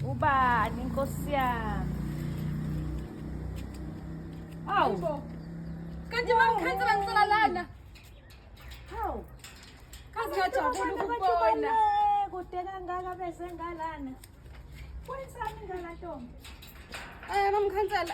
Ubani inkosi yami. Awu. Kanti bamkhathi banisela lana. Hawu. Kazi ngajabula ukubona. Kude kangaka bese ngalana. Kwenza mina la ntombi. Eh bamkhansela.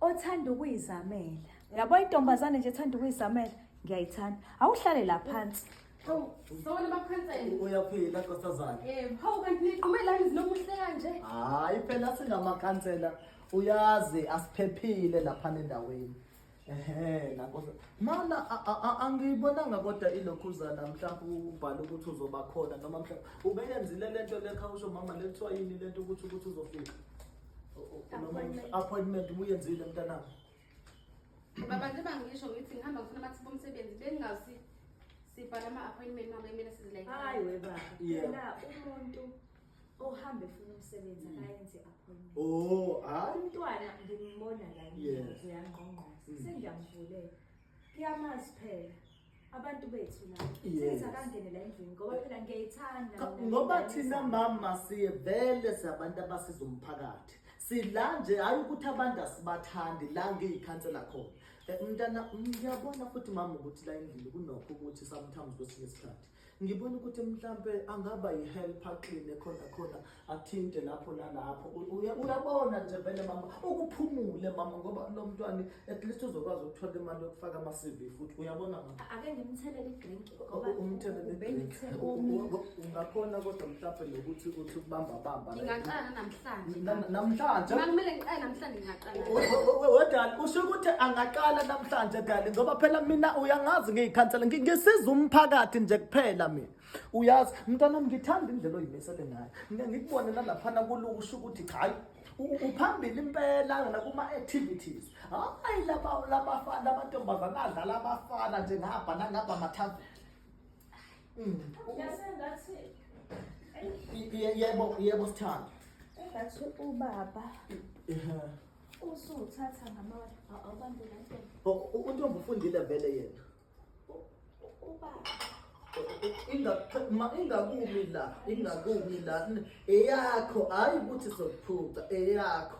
othanda ukuyizamela yabo intombazane nje ethanda ukuyizamela ngiyayithanda awuhlale la phansi Sawona bakhansela. Uyaphila nkosazana. Eh, hawu kanti niqume la izinomuhle kanje. Hayi phela singamakhansela uyazi asiphephile lapha endaweni. Ehe, nakho mana a- a- a- angiyibonanga kodwa ilokhuzana mhlawumbe ubhala ukuthi uzoba khona noma mhlawumbe ubeyenzile le nto lekha usho mama le kuthiwa yini le nto ukuthi ukuthi uzofika O- o- noma Appointment. appointment ubuyenzile mntanami Baba nje bangisho ngithi ngihamba ngifuna amathuba omsebenzi bengingazi sibhala ama-appointment mama kumele sizilayile. Hayi we baba. Yeah. Phela umuntu ohambe funa umsebenzi mm. akayenze appointment oh hayi umntwana ngimbona la ngiyenze yangqongqoza mm. sengiyamuvulela kuyamazi phela abantu bethu la senza kangene la endlini ngoba phela ngiyayithanda ngoba thina mama siye vele sabantu abasiza umphakathi sila nje hayi ukuthi abantu asibathandi la ngiyikhansela khona eh, mntana ngiyabona futhi mama ukuthi la endlini kunokho ukuthi sometimes kwesinye isikhathi Ngibona ukuthi mhlampe angaba yihelper clean khona khona athinte lapho nalapho. Uyabona nje vele mama ukuphumule mama ngoba lo mntwana at least uzokwazi ukuthola imali yokufaka ama CV futhi uyabona mama. Ake ngimthelele idrink ngoba umthelele idrink. Ungakhona kodwa mhlampe nokuthi uthi ukubamba bamba. Ngingaqala namhlanje. Namhlanje. Makumele ngiqale namhlanje ngiyaqala. wedali usho ukuthi angaqala namhlanje dali ngoba phela mina uyangazi ngiyikhansela ngisiza umphakathi nje kuphela mina uyazi mntwana ngithanda indlela oyimisele ngayo ngikubone nalaphana kuluku usho ukuthi cha hayi uphambili impela yona kuma-activities hayi lamantombazane adlala abafana nje ngabha nangabha mathaveni Mm. Yasengathi yebo yebo sithanda engathi ubaba usuthatha ngamawala awubambe kanto untombi ufundile vele yena ubaba ingakumi la ingakumi la eyakho hayi ukuthi sokuphuca eyakho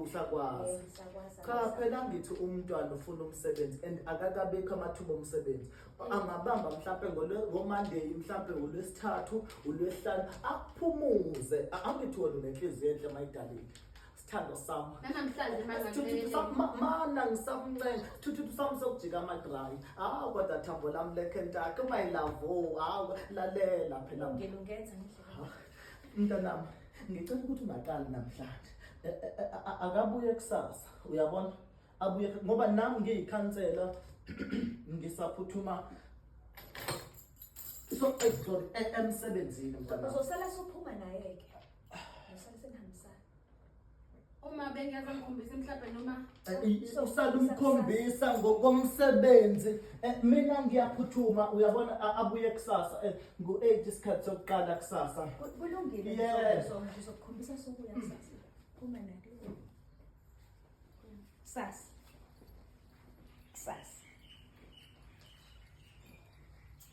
usakwazi eh, cha phela ngithi umntwana ufuna umsebenzi and akakabekho amathuba omsebenzi eh. angabamba mhlampe ngomonday mhlampe ulwesithathu ulwesihlanu aphumuze angithi wena unenhliziyo enhle mayidalile sithando sami nanamhlanje mana ngisamncenga thuthutu sami sokujika amadrayi hawu kodwa thambo lami lekhentake my love o hawu lalela phela ngilungenza ngendlela mntanami ngicela ukuthi ungaqali namhlanje akabuye kusasa uyabona abuye ngoba nami ngiyikhansela ngisaphuthuma so sorry emsebenzini mntanami uzosala sophuma naye ke usale senihambisana uma bengeza ngikhombisa mhlawumbe noma usalumkhombisa ngokomsebenzi eh, mina ngiyaphuthuma uyabona abuye kusasa eh, ngu-eight isikhathi sokuqala kusasa kulungile ngizokukhombisa sokuya kusasa phuma nake kusasa kusasa